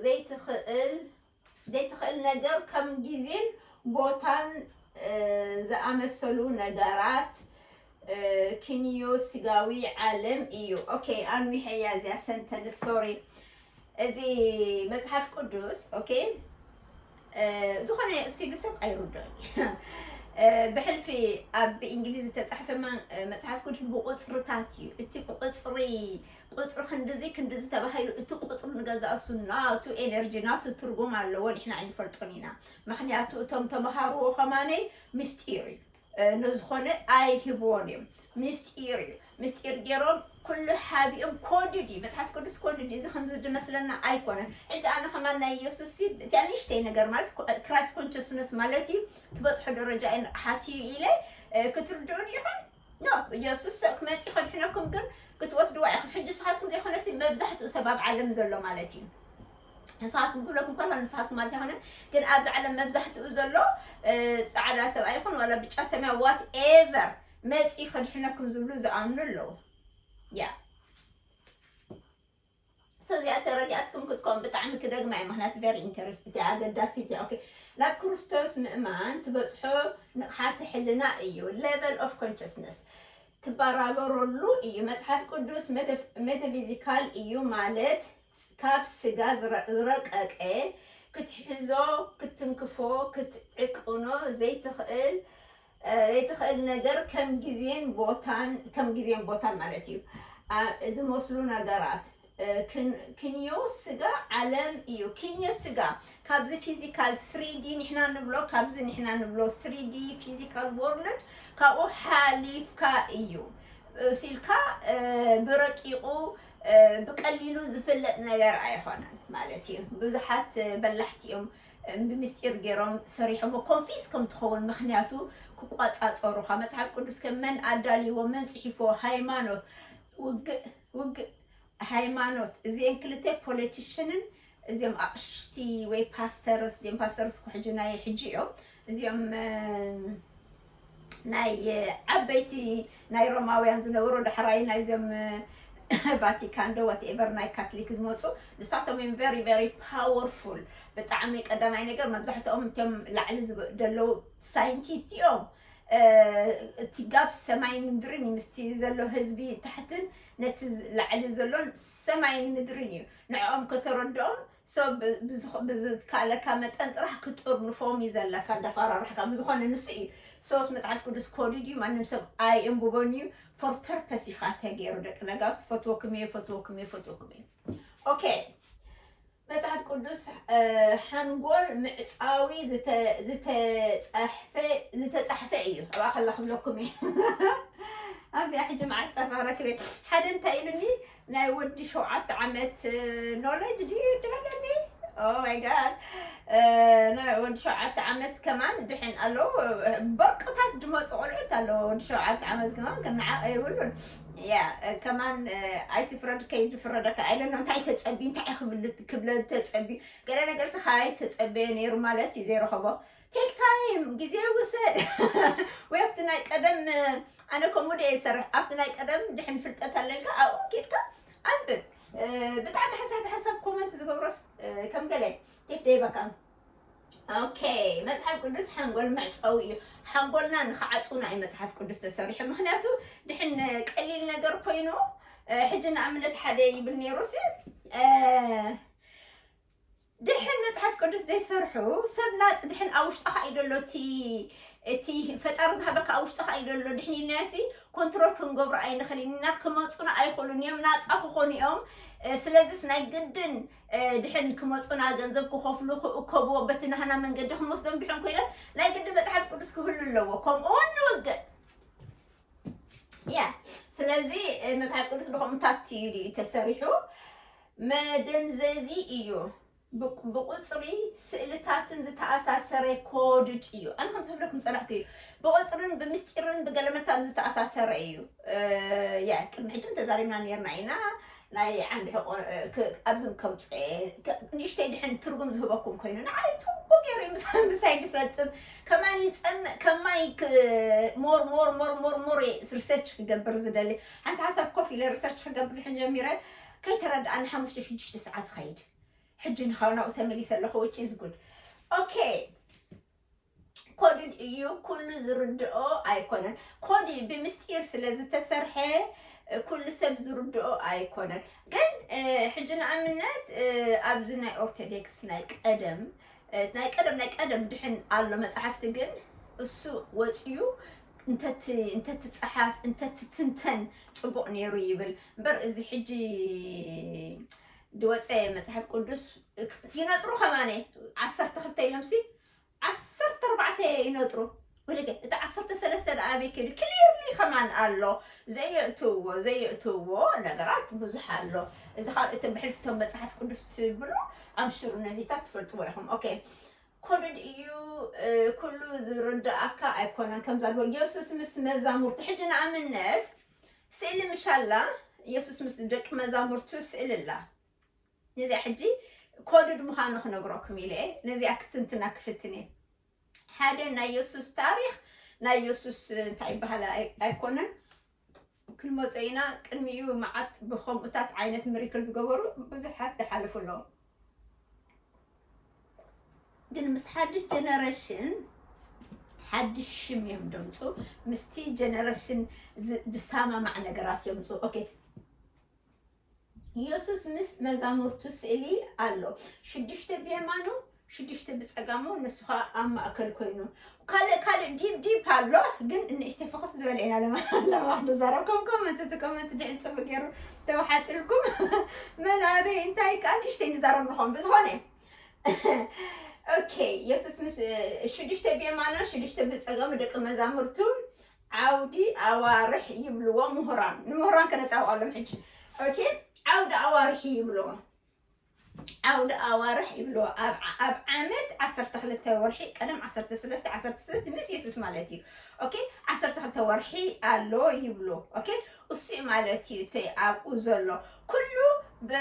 ዘይትኽእል ዘይትኽእል ነገር ከም ግዜን ቦታን ዝኣመሰሉ ነጋራት ኪንዮ ስጋዊ ዓለም እዩ። ኦኬ ኣንዊሐያ እዚኣ ሰንተንስ ሶሪ እዚ መጽሓፍ ቅዱስ ኦኬ ዝኾነ ሲሉ ሰብ ኣይርዶን እዩ ብሕልፊ ኣብ ብእንግሊዝ ዝተጻሕፈ መጽሓፍ ቅዱስ ብቁጽርታት እዩ እቲ ቁጽሪ ቁጽሪ ክንድዚ ክንድዚ ተባሂሉ እቲ ቁጽሪ ንገዛእሱ ናቱ ኤነርጂ ናቱ ትርጉም ኣለዎ ንሕና ኣይንፈልጦን ኢና ምክንያቱ እቶም ተምሃርዎ ከማነይ ምስጢር እዩ ንዝኾነ ኣይህብዎን እዮም ምስጢር እዩ ምስጢር ገይሮም ኩሉ ሓቢኦም ኮድድ እዩ መፅሓፍ ቅዱስ ኮድድ እዩ እዚ ከምዚ ዝመስለና ኣይኮነን ሕጂ ኣነ ከማን ናይ ኢየሱስ እቲ ኣንሽተይ ነገር ማለት ክራይስት ኮንሽስነስ ማለት እዩ ትበፅሖ ደረጃ እዩ ንቕሓት እዩ ኢለ ክትርድኡን ይኹን ን ኢየሱስ ስቅ ክመጽእ ከድሕነኩም ግን ክትወስድዋ ኢኹም ሕጂ ንስኻትኩም ዘይኮነሲ መብዛሕትኡ ሰብ ኣብ ዓለም ዘሎ ማለት እዩ ንስኻትኩም ክብለኩም ከሎ ንስኻትኩም ማለት ኣይኮነን ግን ኣብዚ ዓለም መብዛሕትኡ ዘሎ ፃዕዳ ሰብ ኣይኹን ዋላ ብጫ ሰማያ ዋት ኤቨር መፂኡ ከድሕነኩም ዝብሉ ዝኣምኑ ኣለዉ ያ ሰዚኣ ተረዲኣትኩም ክትኮን ብጣዕሚ ክደግማ እየ ምክንያቱ ቨሪ ኢንተረስት እያ ኣገዳሲት እያ ኦኬ ናብ ክርስቶስ ምእማን ትበጽሖ ንቕሓተ ሕልና እዩ ሌቨል ኦፍ ኮንሽስነስ ትባራበረሉ እዩ መጽሓፍ ቅዱስ ሜታፊዚካል እዩ ማለት ካብ ስጋ ዝረቀቀ ክትሕዞ ክትንክፎ ክትዕቅኖ ዘይትኽእል ዘይትኽእል ነገር ከም ግዜን ቦታን ከም ግዜን ቦታን ማለት እዩ ዝመስሉ ነገራት ክንዮ ስጋ ዓለም እዩ ክንዮ ስጋ ካብዚ ፊዚካል ስሪዲ ንሕና ንብሎ ካብዚ ንሕና ንብሎ ስሪዲ ፊዚካል ወርልድ ካብኡ ሓሊፍካ እዩ ሲልካ ብረቂቑ ብቀሊሉ ዝፍለጥ ነገር ኣይኾነን ማለት እዩ ብዙሓት በላሕቲ እዮም ብምስጢር ገይሮም ሰሪሖሞ ኮንፊስ ከም ትኸውን ምኽንያቱ ክቋጻጸሩኻ መጽሓፍ ቅዱስ ከ መን ኣዳልይዎ መን ጽሒፎ ሃይማኖት ውግእ ውግእ ሃይማኖት እዚኤን ክልተ ፖለቲሽንን እዚኦም ኣቕሽቲ ወይ ፓስተርስ እዚኦም ፓስተርስ እኮ ሕጂ ናይ ሕጂ እዮም እዚኦም ናይ ዓበይቲ ናይ ሮማውያን ዝነበሩ ዳሕራይ ናይዞም ቫቲካን ዶ ዋትኤቨር ናይ ካትሊክ ዝመፁ ንሳቶም እዮም ቨሪ ቨሪ ፓወርፉል ብጣዕሚ ቀዳማይ ነገር መብዛሕትኦም እቶም ላዕሊ ዝብ- ዘለዉ ሳይንቲስት እዮም እ፣ እቲ ጋብ ሰማይን ምድርን እዩ ምስቲ ዘሎ ህዝቢ ታሕትን ነቲ ዝ- ላዕሊ ዘሎን ሰማይን ምድርን እዩ ንዕኦም ከተረድኦም ሰብ ብዝካለካ መጠን ጥራሕ ክትጥርንፎም እዩ ዘለካ እንዳፋራራሕካ ብዝኮነ ንሱ እዩ ሶስ መጽሓፍ ቅዱስ ኮዲድ እዩ ማንም ሰብ ኣይእንብቦን እዩ ፎር ፐርፐስ ኢካ ተገይሩ ደቂ ነጋስ ፈትወክም እየ ፈትወክም እየ ፈትወክም እየ ኦኬ መጽሓፍ ቅዱስ ሓንጎል ምዕጻዊ ዝተጻሕፈ እዩ ኣብኣ ከላ ክብለኩም እየ ኣብዚኣ ሕጂ መዓት ጸራ ረክበ ሓደ እንታይ ኢሉኒ ናይ ወዲ ሸውዓተ ዓመት ኖለጅ ድዩ ድበለኒ ኦ ማይ ጋድ ናይ ወዲ ሸውዓተ ዓመት ከማን ድሕን ኣለዉ በርቅታት ድመፁ ቆልዑት ኣለዉ ወዲ ሸውዓተ ዓመት ከማን ክነዓቕ የብሉን ያ ከማን ኣይትፍረድ ከይድፍረደካ ኣይለኖ እንታይ ተፀብዩ እንታይ ክብል ክብለ ተፀብዩ ገለ ነገርስ ካባይ ተፀበየ ነይሩ ማለት እዩ ዘይረኸቦ ቴክ ታይም ግዜ ይውሰድ ወይ ኣብቲ ናይ ቀደም ኣነ ከምኡ ድየ ዝሰርሕ ኣብቲ ናይ ቀደም ድሕን ፍልጠት ኣለልካ ኣብኡ ኬድካ ኣንብብ ብጣዕሚ ሓሳብ ሓሳብ ኮመንት ዝገብሮስ ከም ገለ ቴፍ ደይበካ ኦኬ መፅሓፍ ቅዱስ ሓንጎል መዕፀዊ እዩ ሓንጎልና ንክዓፅውና እዩ መፅሓፍ ቅዱስ ተሰሪሑ ምክንያቱ ድሕን ቀሊል ነገር ኮይኑ ሕጂ ንኣብነት ሓደ ይብል ነይሩ ሲ ድሕን መጽሓፍ ቅዱስ ዘይሰርሑ ሰብ ናጽ ድሕን ኣብ ውሽጥኻ እዩ ዘሎ እቲ እቲ ፈጣሪ ዝሃበካ ኣብ ውሽጥኻ እዩ ዘሎ ድሕን ኢልናዮሲ ኮንትሮል ክንገብሮ ኣይንኽእልን ኢና ክመፁና ኣይኽእሉን እዮም ናፃ ክኾኑ እዮም ስለዚስ ናይ ግድን ድሕን ክመፁና ገንዘብ ክኸፍሉ ክእከብዎ በቲ ናህና መንገዲ ክንወስዶም ድሕን ኮይነስ ናይ ግድን መፅሓፍ ቅዱስ ክህሉ ኣለዎ ከምኡ ውን ንውግእ ያ ስለዚ መፅሓፍ ቅዱስ ድኸምታት እዩ ተሰሪሑ መደንዘዚ እዩ ብቅ ብቁጽሪ ስእልታትን ዝተኣሳሰረ ኮድድ እዩ ኣነ ከምዚ ክብለኩም ጸላእኩ እዩ ብቁጽርን ብምስጢርን ብገለመታን ዝተኣሳሰረ እዩ የ ቅድሚ ሕጂ ተዛሪብና ነርና ኢና ናይ ዓንዲ ሕቆ ኣብዚ ከምጽኦ እየ ንእሽተይ ድሕን ትርጉም ዝህበኩም ኮይኑ ንዓይ ጽቡቅ ገይሩ እዩ ምሳ- ምሳይ ድሰጥም ከማን ይጸምእ ከም ማይ ክ- ሞር ሞር ሞር ሞር ሞር እየ ሪሰርች ክገብር ዝደሊ ሓንሳ ሓሳብ ኮፍ ኢለ ሪሰርች ክገብር ድሕን ጀሚረ ከይተረድኣ ንሓሙሽተ ሽዱሽተ ሰዓት ይኸይድ ሕጂ ንካብ ናብኡ ተመሊሰ ኣለኹ which is good okay ኮድድ እዩ ኩሉ ዝርድኦ ኣይኮነን ኮድ ብምስጢር ስለ ዝተሰርሐ ኩሉ ሰብ ዝርድኦ ኣይኮነን ግን ሕጂ ንኣብነት ኣብዚ ናይ ኦርቶዶክስ ናይ ቀደም ናይ ቀደም ናይ ቀደም ድሕን ኣሎ መፅሓፍቲ ግን እሱ ወፅዩ እንተትፀሓፍ እንተትትንተን ፅቡቅ ነይሩ ይብል እምበር እዚ ሕጂ ድወፀ መፅሓፍ ቅዱስ ይነጥሩ ከማነ ዓሰርተ ክልተ ኢሎምሲ ዓሰርተ ኣርባዕተ ይነጥሩ ወደገ እቲ ዓሰርተ ሰለስተ ደኣ ኣበይ ከይዱ ክሊርሊ ከማን ኣሎ ዘየእትዎ ዘየእትዎ ነገራት ብዙሕ ኣሎ እዚ ካብ እቲ ብሕልፍቶም መፅሓፍ ቅዱስ ትብሎ ኣምሽሩ ነዚታት ትፈልጥዎ ኢኹም ኦኬ ኮድድ እዩ ኩሉ ዝርደኣካ ኣይኮነን ከምዛ ድሮ የሱስ ምስ መዛሙርቱ ሕጂ ንኣብነት ስእሊ ምሻላ የሱስ ምስ ደቂ መዛሙርቱ ስእሊ ኣላ ነዚኣ ሕጂ ኮድድ ምዃኑ ክነግረኩም ኢለ ነዚኣ ክትንትና ክፍትን እየ ሓደ ናይ የሱስ ታሪክ ናይ የሱስ እንታይ ይበሃል ኣይኮነን ክንመጾ ኢና ቅድሚኡ መዓት ብከምኡታት ዓይነት ምሪክል ዝገበሩ ብዙሓት ዝሓለፉ ኣለዉ ግን ምስ ሓድሽ ጀነረሽን ሓድሽ ሽም እዮም ደምፁ ምስቲ ጀነረሽን ዝሰማማዕ ነገራት የምፁ ኦኬ ኢየሱስ ምስ መዛሙርቱ ስእሊ ኣሎ፣ ሽዱሽተ ብየማኑ ሽዱሽተ ብጸጋሙ ንሱ ኸኣ ኣብ ማእከል ኮይኑ ካልእ ካልእ ዲብ ዲብ ኣሎ ግን ንእሽተይ ፍኽት ዝበለ ኢና ለማሕ ንዛረብኩም ኮመንት እቲ ኮመንት ድሕን ጽቡቅ ገይሩ ተባሓጢልኩም መን ኣበይ እንታይ ከኣ ንእሽተይ ንዛረብ ንኾን ብዝኾነ ኦኬ የሱስ ምስ ሽዱሽተ ብየማኖ ሽዱሽተ ብጸጋሙ ደቂ መዛሙርቱ ዓውዲ ኣዋርሕ ይብልዎ ምሁራን ንምህራን ከነጣብቀሎም ሕጂ ኦኬ ዓውዲ ኣዋርሒ ይብልዎ ዓውዲ ኣዋርሕ ይብልዎ ኣብ ኣብ ዓመት 12 ወርሒ ቀደም 13 16 ምስ የሱስ ማለት እዩ ኦኬ 12 ወርሒ ኣሎ ይብሉ ኦኬ እሱ'ዩ ማለት እዩ እቲ ኣብኡ ዘሎ ኩሉ ብ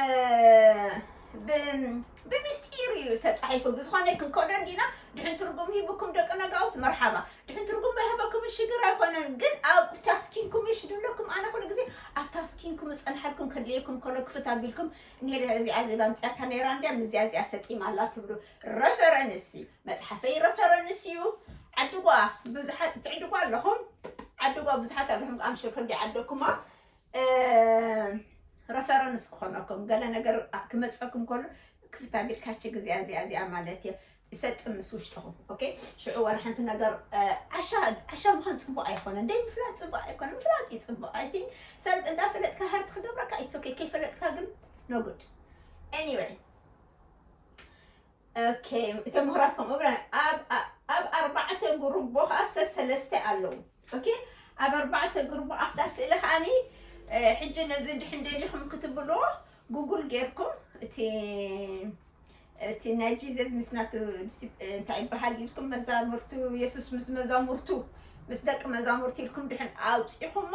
ብ ብምስጢር እዩ ተጻሒፉ ብዝኾነ ክንከዶ እንዲና ድሕን ትርጉም ሂብኩም ደቂ ነጋውስ መርሓባ ድሕን ትርጉም ባይሃበኩም ሽግር ኣይኮነን ግን ኣብ ታስኪንኩም እሽ ድብለኩም ኣነ ኩሉ ግዜ ኣብ ታስኪንኩም ዝጸንሓልኩም ከድልየኩም ከሎ ክፍት ኣቢልኩም ኔረ እዚኣ ዜባ ምጽያታ ኔራ እንድያ ምዚያ እዚኣ ሰጢማ ኣላ ትብሉ ረፈረንስ እዩ መፅሓፈይ ረፈረንስ እዩ ዓድጓ ብዙሓት ትዕድጓ ኣለኹም ዓድጓ ብዙሓት ኣለኹም ኣምሽር ክንዲ ዓደኩማ ረፈረንስ ክኾነኩም ገለ ነገር ክመፀኩም ከሎ ክፍት ኣቢልካ ችግር እዚኣ እዚኣ እዚኣ ማለት እየ ይሰጥም ምስ ውሽጥኹም ኦኬ ሽዑ ዋላ ሓንቲ ነገር ዓሻ ዓሻ ምዃን ፅቡቅ ኣይኮነን ደይ ምፍላጥ ፅቡቅ ኣይኮነን ምፍላጥ እዩ ፅቡቅ ኣይ ቲንክ ሰብ እንዳፈለጥካ ሃርቲ ክገብረካ ይሶኬ ከይፈለጥካ ግን ኖ ጉድ ኤኒዌይ ኦኬ እቶም ምሁራት ከምኡ ብለን ኣብ ኣብ- ኣብ ኣርባዕተ ጉርቦ ከዓ ሰሰለስተ ኣለዉ ኦኬ ኣብ ኣርባዕተ ጉርቦ ኣብታ ስእሊ ከዓኒ እ፣ ሕጂ ነዚ ድሕን ደሊኹም ክትብሎ ጉጉል ጌርኩም እቲ እቲ ናይ ጂዘስ ምስ ናቱ ዲሲ- እ፣ እንታይ ይበሃል ኢልኩም መዛሙርቱ የሱስ ምስ መዛሙርቱ ምስ ደቂ መዛሙርቲ ኢልኩም ድሕን ኣውፂኹማ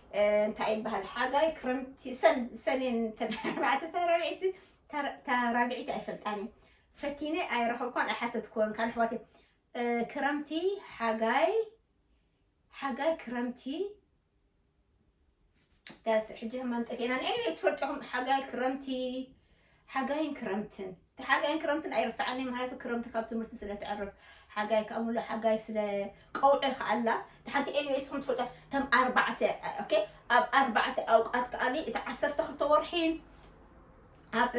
እንታይ ይበሃል ሓጋይ ክረምቲ ሰኔን ተባዕተ ሳራብዒቲ ታራብዒቲ ኣይፈልጣን እዩ ፈቲነ ኣይረኸብኳን ኣይሓተትክዎን ካል ኣሕዋት ክረምቲ ሓጋይ ሓጋይ ክረምቲ ዳስ ሕጂ ህማን ጠፊእና ንኤኒ ትፈልጥኹም ሓጋይ ክረምቲ ሓጋይን ክረምትን እቲ ሓጋይን ክረምትን ኣይርሳዓኒ ምክንያቱ ክረምቲ ካብ ትምህርቲ ስለ ተዕርፍ ሓጋይ ካብ ሙሉ ሓጋይ ስለ ቀውዒ ከኣላ እቲ ሓንቲ ኤኒዌይ ስኹም ትፈልጧ ተም ኣርባዕተ ኦኬ ኣብ ኣርባዕተ ኣውቃት ከኣኒ እቲ ዓሰርተ ክልተ ወርሒ ኣብ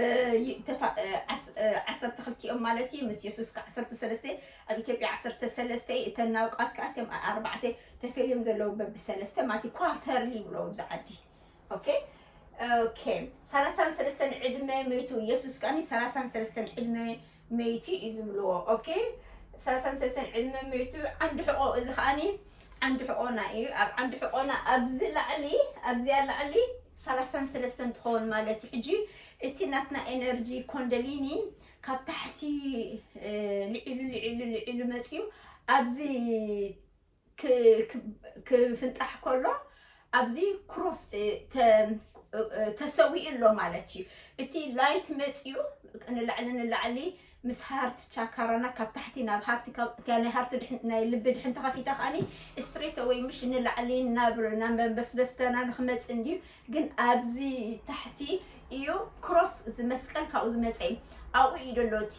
ዓሰርተ ክልቲኦም ማለት እዩ ምስ የሱስ ከ ዓሰርተ ሰለስተ ኣብ ኢትዮጵያ ዓሰርተ ሰለስተ እዩ እተን ናውቃት ከዓ እቶም ኣርባዕተ ተፈልዮም ዘለዉ በብሰለስተ ማለት እዩ ኳርተርሊ ይብሎ ኣብዚ ዓዲ ኦኬ ኦኬ ሰላሳን ሰለስተን ዕድመ መይቱ ኢየሱስ ከኣኒ ሰላሳን ሰለስተን ዕድመ መይቱ እዩ ዝብልዎ ኦኬ ሰላሳን ሰለስተን ዕድመ መይቱ ዓንዲ ሕቆ እዚ ከኣኒ ዓንዲ ሕቆና እዩ ኣብ ዓንዲ ሕቆና ኣብዚ ላዕሊ ኣብዚኣ ላዕሊ ሰላሳን ሰለስተን ትኸውን ማለት እዩ ሕጂ እቲ ናትና ኤነርጂ ኮንደሊኒ ካብ ታሕቲ እ፣ ልዒሉ ልዒሉ ልዒሉ መፅዩ ኣብዚ ክፍንጣሕ ከሎ ኣብዚ ክሮስ ተሰዊኡ ኣሎ ማለት እዩ እቲ ላይት መፅኡ ንላዕሊ ንላዕሊ ምስ ሃርቲ ቻካራና ካብ ታሕቲ ናብ ሃርቲ ናይ ሃርቲ ናይ ልቢ ድሕን ተኸፊታ ከዓኒ ስትሬት ወይ ምሽ ንላዕሊ ናብ ናብ መንበስበስተና ንክመፅእ እንድዩ ግን ኣብዚ ታሕቲ እዩ ክሮስ ዝመስቀል ካብኡ ዝመፀ እዩ ኣብኡ እዩ ደሎ እቲ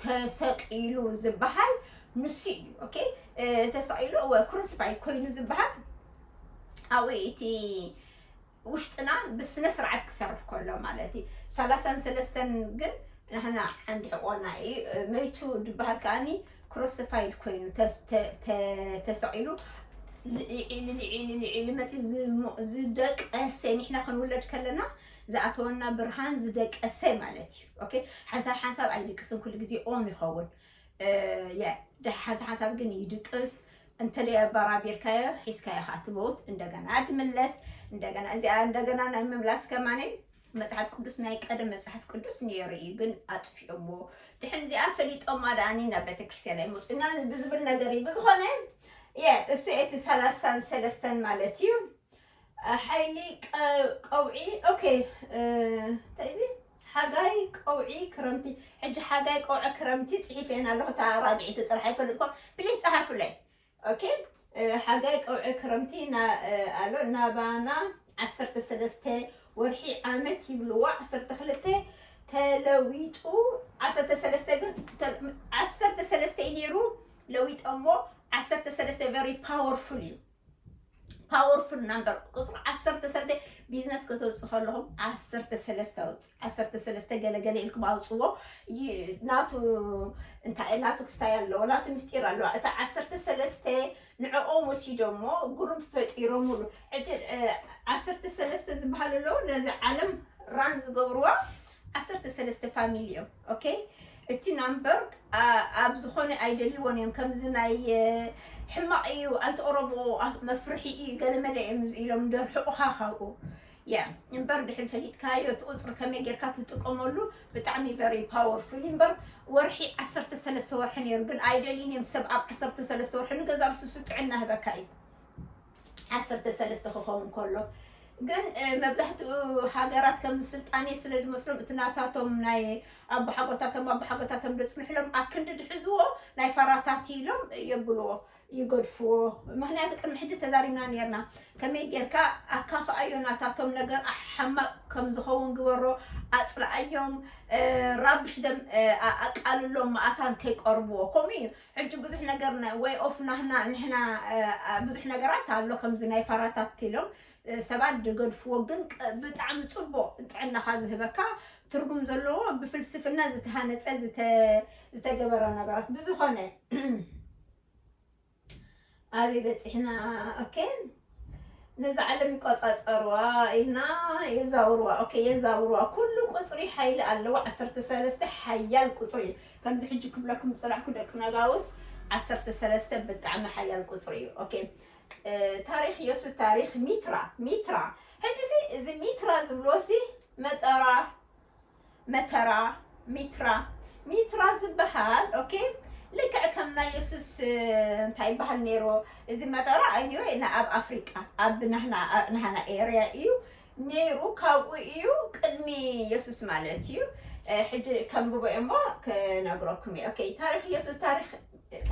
ተሰቂሉ ዝበሃል ንሱ እዩ ኦኬ ተሳኢሉ እወ ክሩሲፋይ ኮይኑ ዝበሃል ኣብኡ እቲ ውሽጥና ብስነ ስርዓት ክሰርሕ ከሎ ማለት እዩ ሰላሳን ሰለስተን ግን ንሕና ዓንዲ ሕቆና እዩ መይቱ ዝበሃል ከዓኒ ክሩሲፋይድ ኮይኑ ተሰቂሉ ልዒሉ ልዒሉ ልዒሉ መፂ ዝደቀሰ ንሕና ክንውለድ ከለና ዝኣተወና ብርሃን ዝደቀሰ ማለት እዩ ኦኬ ሓንሳብ ሓንሳብ ኣይድቅስን ኩሉ ግዜ ኦን ይኸውን ዳሓን ሓሳብ ግን ይድቅስ እንተለይ ኣባራቢርካዮ ሒዝካዮ ከዓ ትመውት እንደገና ትምለስ እንደገና እዚኣ እንደገና ናይ ምምላስ ከማነ መፅሓፍ ቅዱስ ናይ ቀደም መፅሓፍ ቅዱስ ነይሩ እዩ ግን ኣጥፊኦሞ ድሕን እዚኣ ፈሊጦማ ደኣኒ ናብ ቤተክርስትያን ኣይመፁና ብዝብል ነገር እዩ ብዝኾነ እሱ እቲ ሰላሳን ሰለስተን ማለት እዩ ሓይሊ ቀውዒ ኦኬ እንታይ እዚ ሓጋይ ቀውዒ ክረምቲ ሕጂ ሓጋይ ቀውዒ ክረምቲ ጽሒፈየን ኣለኹ እታ ራብዒቲ ጥራሕ ኣይፈልጥኩን ፕሊስ ጸሓፉለይ ኦኬ ሓጋይ ቀውዒ ክረምቲ ኣሎ ናባና ዓሰርተ ሰለስተ ወርሒ ዓመት ይብልዋ ዓሰርተ ክልተ ተለዊጡ ዓሰርተ ሰለስተ ግን ዓሰርተ ሰለስተ እዩ ነይሩ ለዊጠሞ ዓሰርተ ሰለስተ ቨሪ ፓወርፉል እዩ ፓወርፉል ናምበር ቁፅሪ ዓሰርተ ሰለስተ ቢዝነስ ከተውፅእ ከለኹም ዓሰርተ ሰለስተ ኣውፅእ ዓሰርተ ሰለስተ ገለገለ ኢልኩም ኣውፅዎ ናቱ እንታይ ናቱ ክስታይ ኣለዎ ናቱ ምስጢር ኣለዋ እታ ዓሰርተ ሰለስተ ንዕኦም ወሲዶሞ ጉሩም ፈጢሮምሉ ሕጂ ዓሰርተ ሰለስተ ዝበሃል ኣለዎ ነዚ ዓለም ራን ዝገብርዎ ዓሰርተ ሰለስተ ፋሚሊ እዮም ኦኬ እቲ ናምበርግ ኣብ ዝኾነ ኣይደልይዎን እዮም ከምዚ ናይ ሕማቕ እዩ ኣይትቕረብኦ መፍርሒ እዩ ገለመለ እዮም ኢሎም ደርሕቑኻ ካብኡ ያ እምበር ድሕሪ ፈሊጥካዮ እቲ ቁፅሪ ከመይ ጌርካ ትጥቀመሉ ብጣዕሚ ቨሪ ፓወርፉል እዩ እምበር ወርሒ ዓሰርተ ሰለስተ ወርሒ ነይሩ ግን ኣይደልዩን እዮም ሰብ ኣብ ዓሰርተ ሰለስተ ወርሒ ንገዛ ርስሱ ጥዕና ህበካ እዩ ዓሰርተ ሰለስተ ክኸውን ከሎ ግን መብዛሕትኡ ሃገራት ከምዚ ስልጣኔ ስለ ዝመስሎም እቲ ናታቶም ናይ ኣቦሓጎታቶም ኣቦሓጎታቶም ዘጽንሕሎም ኣክንዲ ድሕዝዎ ናይ ፋራታት ኢሎም የብልዎ ይገድፍዎ ምክንያቱ ቅድሚ ሕጂ ተዛሪብና ነርና ከመይ ጌርካ ኣካፍኣዮ ናታቶም ነገር ሓማቅ ከም ዝኸውን ግበሮ ኣጽልኣዮም ራብሽ ደም ኣቃልሎም መኣታን ከይቀርብዎ ከምኡ እዩ ሕጂ ብዙሕ ነገር ናይ ወይ ኦፍ ናህና ንሕና ብዙሕ ነገራት ኣሎ ከምዚ ናይ ፋራታት ኢሎም ሰባት ዝገድፍዎ ግን ብጣዕሚ ጽቡቕ ጥዕናኻ ዝህበካ ትርጉም ዘለዎ ብፍልስፍና ዝተሃነጸ ዝተገበረ ነገራት ብዝኾነ ኣበይ በጺሕና ኦኬ ነዛ ዓለም ይቆጻጸርዋ ኢልና የዛውርዋ ኦኬ የዛውርዋ ኩሉ ቁጽሪ ሓይሊ ኣለዎ ዓሰርተ ሰለስተ ሓያል ቁጽሪ እዩ ከምዚ ሕጂ ክብለኩም ዝጸናሕኩ ደቂ ነጋውስ ዓሰርተ ሰለስተ ብጣዕሚ ሓያል ቁጽሪ እዩ ኦኬ ታሪኽ ኢየሱስ ታሪኽ ሚትራ ሚትራ ሕጂሲ እዚ ሚትራ ዝብልዎሲ መጠራ መተራ ሚትራ ሚትራ ዝበሃል ኦኬ ልክዕ ከም ናይ የሱስ እንታይ ይበሃል ነይሩ እዚ መተራ ኣይኒወ ኣብ ኣፍሪቃ ኣብ ናህና ኤርያ እዩ ነይሩ ካብኡ እዩ ቅድሚ የሱስ ማለት እዩ ሕጂ ከንብቦ እሞ ክነግረኩም እዩ ኦኬ ታሪክ የሱስ ታሪክ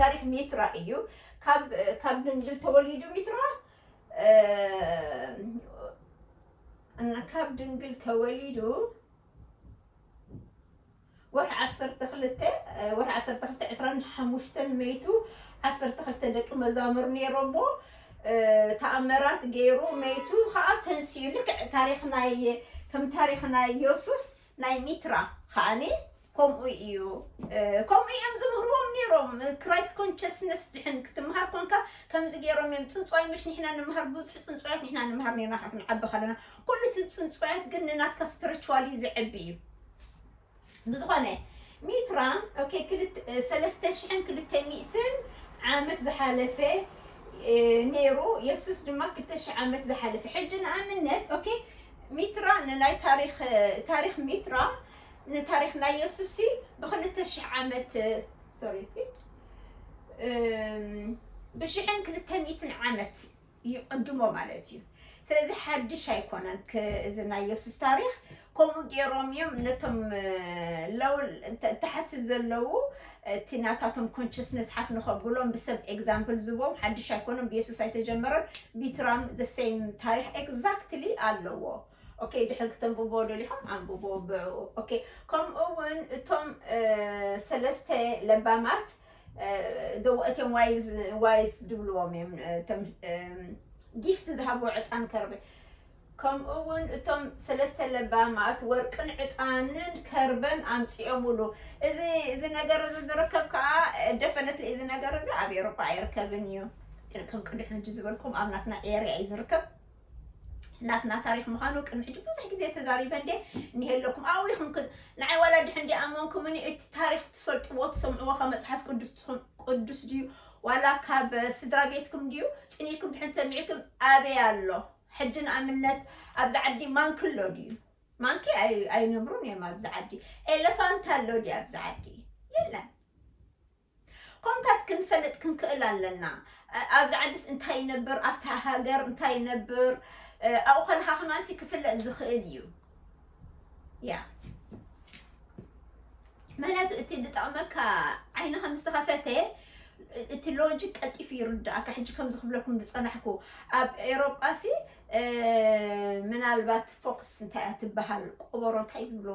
ታሪክ ሚትራ እዩ ካብ ካብ ድንግል ተወሊዱ ሚትራ እና ካብ ድንግል ተወሊዱ ወርሒ ዓሰርተ ክልተ ወርሒ ዓሰርተ ክልተ ዕስራን ሓሙሽተን መይቱ ዓሰርተ ክልተ ደቂ መዛሙር ነይሮሞ ተኣምራት ገይሩ መይቱ ከዓ ተንሲኡ ልክዕ ታሪክ ናይ ከም ታሪክ ናይ የሱስ ናይ ሚትራ ከኣኒ ከምኡ እዩ ከምኡ እዮም ዝምህርዎም ነይሮም ክራይስት ኮንሽስነስ ድሕን ክትምሃር ኮንካ ከምዚ ገይሮም እዮም ፅንፅዋይ ምሽ ንሕና ንምሃር ብዙሕ ፅንፅዋያት ንሕና ንምሃር ነርና ካብ ክንዓቢ ከለና ኩሉ እቲ ፅንፅዋያት ግን ንናትካ ስፒሪቹዋሊ ዝዕቢ እዩ ብዝኾነ ሚትራ ኦኬ ሰለስተ ሽሕን ክልተ ሚእትን ዓመት ዝሓለፈ ነይሩ የሱስ ድማ ክልተ ሽሕ ዓመት ዝሓለፈ ሕጂ ንኣብነት ኦኬ ሚትራ ንናይ ታሪኽ ታሪኽ ሚትራ ንታሪኽ ናይ የሱሲ ብክልተ ሽሕ ዓመት ሶሪ ብሽሕን ክልተ ሚትን ዓመት ይቕድሞ ማለት እዩ ስለዚ ሓድሽ ኣይኮነን እዚ ናይ የሱስ ታሪክ ከምኡ ገይሮም እዮም ነቶም ለው ታሕቲ ዘለዉ እቲ ናታቶም ኮንቸስነስ ሓፍ ንኸብሎም ብሰብ ኤግዛምፕል ዝቦም ሓድሽ ኣይኮነን ብየሱስ ኣይተጀመረን ቢትራም the same ታሪኽ ኤግዛክትሊ ኣለዎ ኦኬ ድሕሪ ክተንብብዎ ደሊኹም ኣንብብዎ ብዕኡ ኦኬ ከምኡ እውን እቶም ሰለስተ ለባማት እትም ዋይስ ድብልዎም እዮም እቶም ጊፍት ዝሃብዎ ዕጣን ከርበ ከምኡውን እቶም ሰለስተ ለባማት ወርቅን ዕጣንን ከርበን ኣምጺኦምሉ። እዚ እዚ ነገር እዚ ዝርከብ ከኣ ደፈነት እዚ ነገር እዚ ኣብ ኤውሮጳ ኣይርከብን እዩ። ከም ቅድሚ ሕጂ ዝበልኩም ኣብ ናትና ኤርያ እዩ ዝርከብ። ናትና ታሪክ ምዃኑ ቅድሚ ሕጂ ብዙሕ ግዜ ተዛሪበ እንዴ እንሄለኩም ኣብኡ ኢኹም ንዓይ ዋላ ድሕን ዲ ኣመንኩምኒ እቲ ታሪክ ትፈልጥዎ ትሰምዕዎ ካብ መፅሓፍ ቅዱስ ቅዱስ ድዩ ዋላ ካብ ስድራ ቤትኩም ድዩ ፅኒትኩም ድሕን ተሚዕኩም ኣበይ ኣሎ ሕጂ ንኣብነት ኣብዚ ዓዲ ማንኪ ኣሎ ድዩ? ማንኪ ኣይነብሩን እዮም ኣብዚ ዓዲ። ኤለፋንት ኣሎ ድዩ ኣብዚ ዓዲ? የለን። ከምታት ክንፈልጥ ክንክእል ኣለና። ኣብዚ ዓዲስ እንታይ ይነብር፣ ኣብታ ሃገር እንታይ ይነብር ኣብኡ ከለካ ከማንሲ ክፍለጥ ዝኽእል እዩ። ምክንያቱ እቲ ዝጠቕመካ ዓይንኻ ምስ ተኸፈተ እቲ ሎጂክ ቀልጢፉ ይርድኣካ ሕጂ ከምዚ ክብለኩም ዝፀናሕኩ ኣብ ኤሮጳሲ ምናልባት ፎክስ እንታይ እያ ትበሃል ቆበሮ እንታይ ዝብሎ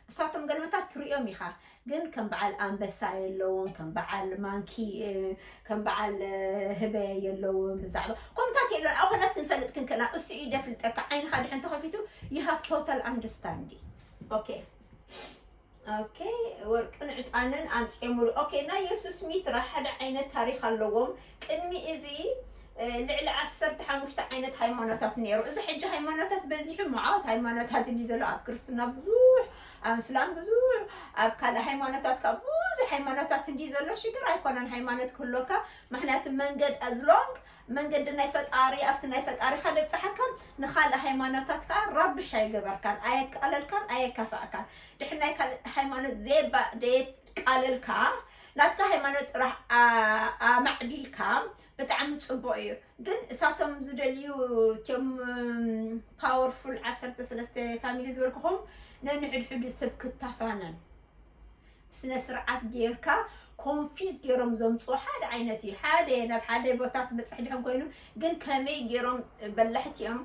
እሳቶም ገልመታት ትርእዮም ኢኻ ግን ከም በዓል ኣንበሳ የለውን ከም በዓል ማንኪ ከም በዓል ህበ የለውን ብዛዕባ ኮምታት የለ ኣብ ኮናት ክንፈልጥ ክንክእላ እሱ እዩ ደፍልጠካ ዓይንኻ ድሕን ተኸፊቱ ዩ ሃቭ ቶታል ኣንደርስታንዲ ኦኬ ኦኬ ወርቅን ዕጣንን ኣምፅኦምሉ ኦኬ ናይ የሱስ ሚትራ ሓደ ዓይነት ታሪክ ኣለዎም ቅድሚ እዚ ልዕሊ ዓሰርተ ሓሙሽተ ዓይነት ሃይማኖታት ነይሩ እዚ ሕጂ ሃይማኖታት በዚሑ መዓት ሃይማኖታት እዩ ዘሎ ኣብ ክርስትና ብዙሕ ኣብ እስላም ብዙሕ ኣብ ካልእ ሃይማኖታት ካኣ ብዙሕ ሃይማኖታት እንድዩ ዘሎ ሽግር ኣይኮነን ሃይማኖት ክህልወካ ምክንያቱ መንገድ as long መንገዲ ናይ ፈጣሪ ኣብቲ ናይ ፈጣሪካ ደብጽሓካ ንካልእ ሃይማኖታት ካኣ ራብሽ ኣይገበርካን ኣየቃለልካን ኣየካፋእካን ድሕሪ ናይ ካልእ ሃይማኖት ዘየባ ደየቃለልካ ናትካ ሃይማኖት ጥራሕ ኣማዕቢልካ ብጣዕሚ ጽቡቅ እዩ ግን እሳቶም ዝደልዩ እትም ፓወርፉል ዓሰርተ ሰለስተ ፋሚሊ ዝበልኩኹም ነንሕድሕዱ ሰብ ክታፋነን ብስነ ስርዓት ጌርካ ኮንፊዝ ገይሮም ዘምፅኡ ሓደ ዓይነት እዩ ሓደ ናብ ሓደ ቦታ ትበፅሕ ድሕን ኮይኑ ግን ከመይ ገይሮም በላሕቲ እዮም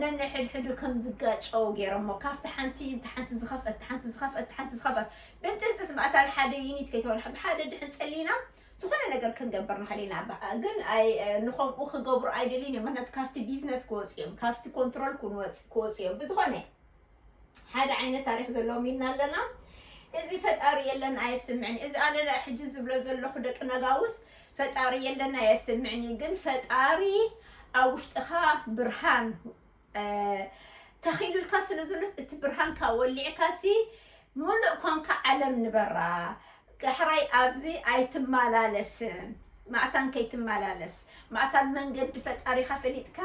ነንሕድሕዱ ከም ዝጋጨው ገይሮሞ ካብቲ ሓንቲ እቲ ሓንቲ ዝኸፍአ እቲ ሓንቲ ዝኸፍአ እቲ ሓንቲ ዝኸፍአ ብንትስስ ማእታ ሓደ ዩኒት ከይተበላሕ ብሓደ ድሕን ፀሊና ዝኾነ ነገር ክንገብር ንኽእል ኢና በቃ ግን ኣይ ንኸምኡ ክገብሩ ኣይደልዩን እዮም ምክንያቱ ካብቲ ቢዝነስ ክወፁ እዮም ካብቲ ኮንትሮል ክንወፅ ክወፁ እዮም ብዝኾነ ሓደ ዓይነት ታሪክ ዘለዎም ኢልና ኣለና እዚ ፈጣሪ የለን ኣየስምዕን እዚ ኣነ ናይ ሕጂ ዝብሎ ዘለኹ ደቂ ነጋውስ ፈጣሪ የለን ኣየስምዕን እዩ ግን ፈጣሪ ኣብ ውሽጥኻ ብርሃን ተኺሉልካ ስለ ዘሎስ እቲ ብርሃንካ ወሊዕካሲ ሙሉእ ኮንካ ዓለም ንበራ ዳሕራይ ኣብዚ ኣይትመላለስን ማዕታን ከይትመላለስ ማዕታን መንገዲ ፈጣሪኻ ፈሊጥካ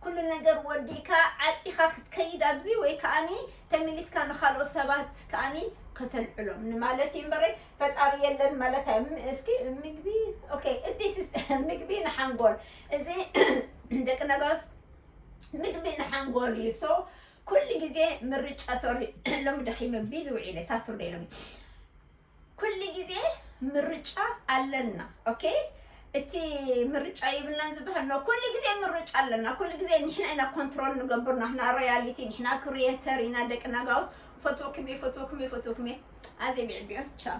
ኩሉ ነገር ወዲእካ ዓፂኻ ክትከይድ ኣብዚ ወይ ከዓኒ ተመሊስካ ንካልኦ ሰባት ከዓኒ ከተልዕሎም ንማለት እዩ እምበረ ፈጣሪ የለን ማለት ኣይ እስኪ ምግቢ ኦኬ እቲስ ምግቢ ንሓንጎል እዚ ደቂ ነገሮስ ምግቢ ንሓንጎል እዩ ሶ ኩሉ ግዜ ምርጫ ሶሪ ሎሚ ደኺመ ቢዚ ውዒለ ሳቱርደይ ሎሚ ኩሉ ግዜ ምርጫ ኣለና ኦኬ እቲ ምርጫ ይብልናን ዝበሃል ነው። ኩሉ ግዜ ምርጫ ኣለና። ኩሉ ግዜ ንሕና ኢና ኮንትሮል ንገብር ናትና ሪያሊቲ ንሕና ክሪኤተር ኢና ደቅና ጋውስ ፈትወኩም እየ ፈትወኩም እየ ፈትወኩም እየ ኣዜ ብዕቢዮ ቻው